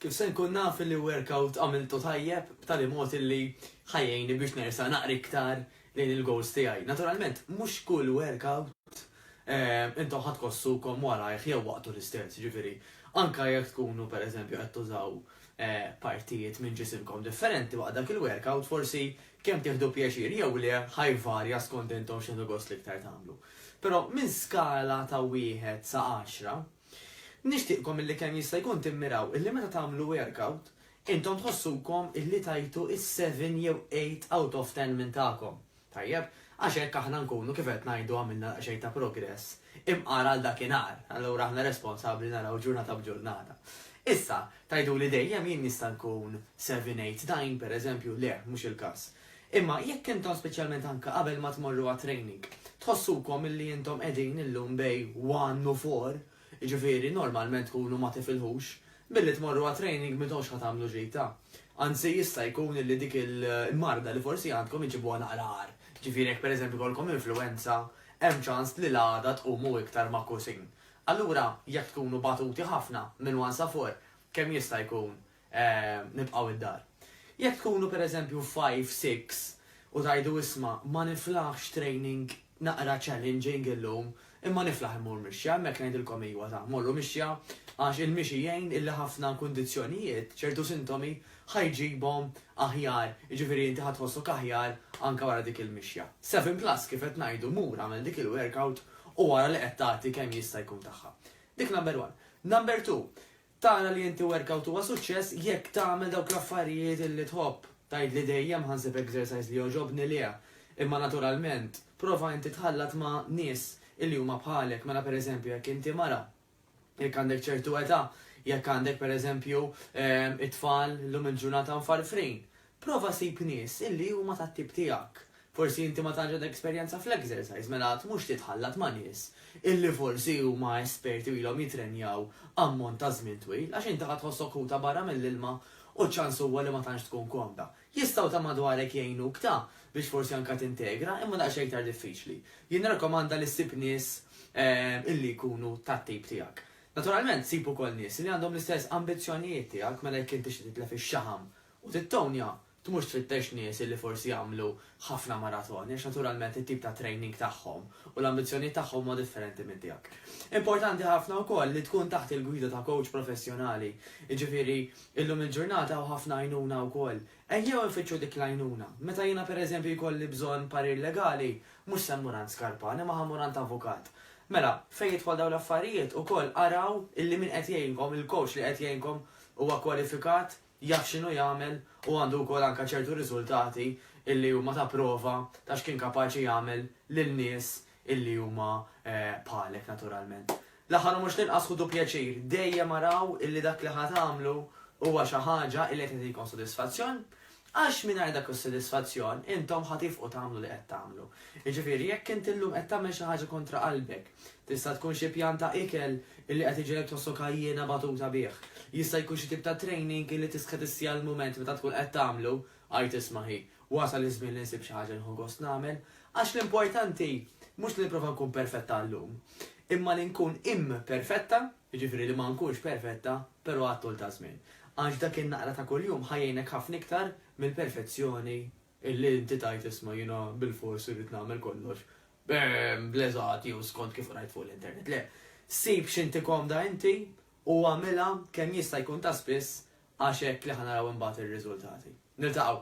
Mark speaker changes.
Speaker 1: Kif se nkun naf li workout għamiltu tajjeb b'tali mod illi ħa jgħinni biex nersaq naqra iktar lejn il-goals tiegħi? Naturalment, mhux kull workout intom ħa tħossukom warajh jew waqtu l-istess, jiġifieri anke jekk tkunu pereżempju qed tużaw partijiet minn ġisimkom differenti waqt dak il-workout forsi kemm tieħdu pjaċir jew le ħa jvarja skont intom x'tieħdu gost l-iktar tagħmlu. Però minn skala ta' wieħed sa għaxra, Nixtieqkom illi kemm jista' jkun timmiraw illi meta tagħmlu workout, intom tħossukom illi tajtu s-seven jew eight out of ten minn tagħkom. Tajjeb? Għax hekk aħna nkunu, kif qed ngħidu għamilna daqsxejn ta' progress, imqar għal dakinhar, allura aħna responsabbli naraw ġurnata b'ġurnata. Issa, tgħiduli dejjem jien nista' nkun seven eight nine, pereżempju, le, mhux il-każ. Imma jekk intom speċjalment anke qabel ma tmorru għat-training, tħossukom illi intom qegħdin illum bej one u four, jiġifieri normalment tkunu ma tifilħux, billi tmorru għat-training m'intomx ħa tagħmlu ġita. Anzi jista' jkun illi dik il-marda li forsi għandkom iġibuha naqra agħar. Jiġifieri jekk pereżempju jkollkom influwenza, hemm ċans li l-għada tqumu iktar magħkusin. Allura jekk tkunu batuti ħafna minn one sa four, kemm jista' jkun nibqgħu id-dar. Jekk tkunu pereżempju five, six u tgħidu isma' ma niflaħx training naqra challenging illum imma niflaħ immur mixja, hemmhekk ngħidilkom iwa ta' morru mixja għax il-mixi jgħin illi ħafna kundizzjonijiet, ċertu sintomi ħa jġibhom aħjar, jiġifieri inti ħa tħossok aħjar anke wara dik il-mixja. Seven plus kif qed ngħidu mur agħmel dik il-workout u ara li qed tagħti kemm jista' jkun tagħha. Dik number one. Number two, Tara li inti workout huwa suċċess jekk tagħmel dawk l-affarijiet li tħobb. Tgħidli dejjem ħa nsib exercise li jogħġobni le. Imma naturalment, prova inti tħallat ma' nies li huma bħalek, mela per eżempju jekk inti mara, jekk għandek ċertu età, jekk għandek per eżempju it-tfal llum il-ġurnata mfarfrin, Prova ssib nies illi huma tat-tip tiegħek. Forsi inti ma tantx għandek esperjenza fl-exercise, mela qatt mhux titħallat ma' nies illi forsi huma esperti u ilhom jittrenjaw ammont ta' żmien twil, għax inti ħa tħossok ħuta barra mill-ilma u ċ-ċans huwa li ma tantx tkun komda. Jistgħu ta' madwarek jgħinuk ta' biex forsi anke tintegra, imma daqsxejn iktar diffiċli. Jien nirrakkomanda li ssib nies illi jkunu tat-tip tiegħek. Naturalment, sib ukoll nies illi għandhom l-istess ambizzjonijiet tiegħek, mela jekk inti tixtieq titlef ix-xaħam U tittownja, tmurx tfittex nies li forsi jagħmlu ħafna maratoni għax naturalment it-tip ta' training tagħhom u l-ambizzjonijiet tagħhom huma differenti minn tiegħek. Importanti ħafna wkoll li tkun taħt il-gwida ta' kowċ professjonali, jiġifieri illum il-ġurnata hawn ħafna għajnuna wkoll. Ejjew infittxu dik l-għajnuna. Meta jiena per eżempju jkolli bżonn parir legali, mhux se mmur għand skarpan imma ħa mmur għand avukat. Mela, fejn jidħol dawn l-affarijiet, ukoll araw illi min qed jgħinkom, il-kowċ li qed jgħinkom huwa kwalifikat, jaf x'inhu jagħmel u għandu wkoll anke ċertu riżultati illi huma ta' prova ta' x'kien kapaċi jagħmel lil nies illi huma bħalek naturalment. L-aħħar u mhux l-inqas ħudu pjaċir dejjem araw illi dak li ħa tagħmlu huwa xi ħaġa illi qed tagħtikom sodisfazzjon għax mingħajr dak is-sodisfazzjon intom ħa tifqu tagħmlu li qed tagħmlu. Jiġifieri jekk int illum qed tagħmel xi ħaġa kontra qalbek Tista' tkun xi pjan ta' ikel illi qed iġegħlek tħossok għajjiena batuta bih. Jista' jkun xi tip ta' training illi tistħi tissija l-mument meta tkun qed tagħmlu. Għid isma' hi, wasal iż-żmien li nsib xi ħaġa li nieħu gost nagħmel. Għax l-importanti mhux li nipprova nkun perfetta għal-lum, imma li nkun imperfetta, jiġifieri li ma nkunx perfetta, però għat-tul taż-żmien. Għax dak in-naqra ta' kuljum ħa jgħinek ħafna iktar mill-perfezzjoni illi inti tgħid isma' jiena bilfors irrid nagħmel kollox bl-eżatt jew skont kif qrajt fuq l-internet. Le, sib x'inti komda inti u agħmilha kemm jista' jkun ta' spiss għax hekk li ħa naraw imbagħad ir-riżultati. Niltaqgħu!